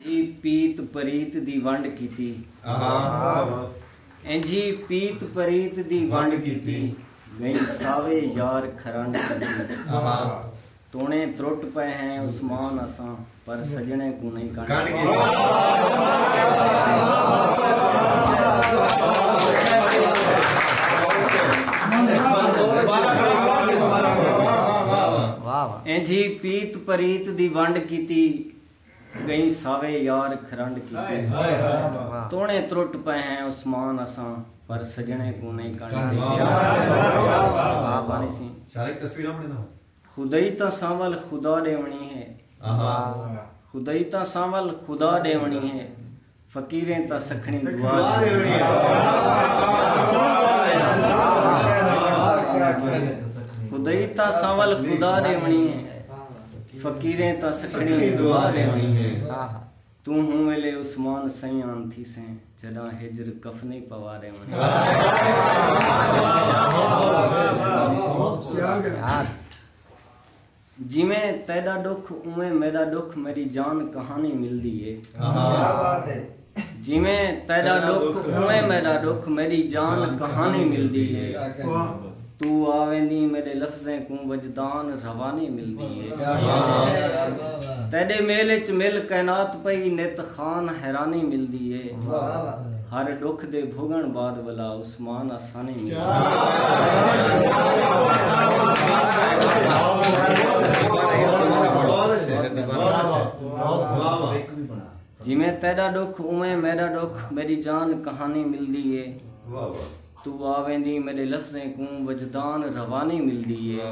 ای پیت پریت دی ونڈ کیتی۔ انجھی پیت پریت دی ونڈ کیتی۔ ڳئی ساوے یار کھرنڈ کیتی۔ توݨے ترٹ پئے ہیں عثمان اساں پر سڄݨیں کوں نئیں کنڈ کیتی۔ انجھی پیت پریت دی ونڈ کیتی۔ ڳئیں ساوے یار کھرنڈ کیتی۔ توݨے ترٹ پئے ہیں عثمان اساں پر سڄݨیں کوں نئیں کنڈ کیتی۔ خدائی تاں سانول خدا ݙیوݨی ہے۔ خدائی تاں سانول خدا ݙیوݨی ہے۔ فقیریں تاں سکھنی دعا خدائی تاں سانول خدا دے ونی فقیریں تاں سکھنی دعا دے ونی تو ہوں ویلے عثمان سیان تھی سے جدا ہجر کفنی پوا دے ونی جیویں تیڈا ڈکھ اونویں میڈا ڈکھ میڈی جان کہانی ملدی اے۔ جیویں تیڈا ڈکھ اونویں میڈا ڈکھ میڈی جان کہانی ملدی اے۔ تو آ ویندیں میڈے لفظیں کوں وجدان روانی ملدی اے۔ تیڈے میل اچ مل کائنات پئی نت خان حیرانی ملدی اے۔ ہر ڈکھ دے بھوگن بعد ولا عثمان آسان کہانی ملدی اے۔ جیویں تیڈا ڈکھ اوویں میڈا ڈکھ میڈی جان کہانی ملدی اے تو آویندی میڈے لفظیں کوں وجدان روانی ملدی اے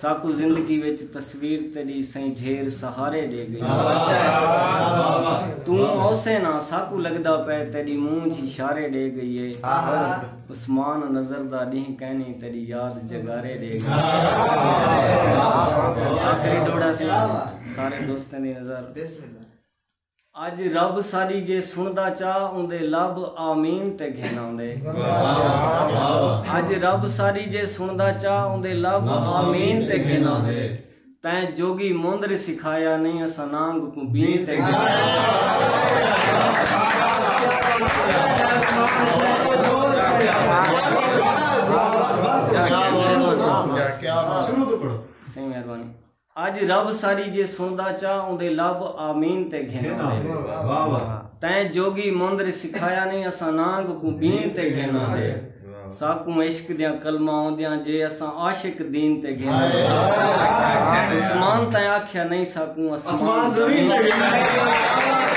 ساکوں زندگی وچ تصویر تیݙی سئیں جھیر سہارے ݙے ڳئی توں اوسیں نہ ساکوں لڳدا پئے تیݙی مونجھ اشارے ݙے ڳئی اے عثمان نظر دا ݙینہہ کائنی تیݙی یاد جگارے ݙے ڳئی آخری ݙوہڑا سی سارے دوستیں دی نظر اج رب ساڈی جے سنڑدا چا اوندے لب آمین تے گھن آوندے اج رب ساڈی جے سنڑدا چا اوندے لب آمین تے گھن آوندے تیں جوگی موندر سکھایا نہیں اساں نانگ کو بین تے گھن آوندے سائیں مہربانی اج رب ساری جے سندا چا اوندے لب آمین تے گھن آندے تیں جوگی مندر سکھایا نیں اساں نانگ کوں بین تے گھن آندے ساکوں عشق دیاں کلماں اوندیاں جے اساں عاشق دین تے گھن آندے عثمان تیں آکھیا نیں ساکوں اسمان زمین تے گھن آندے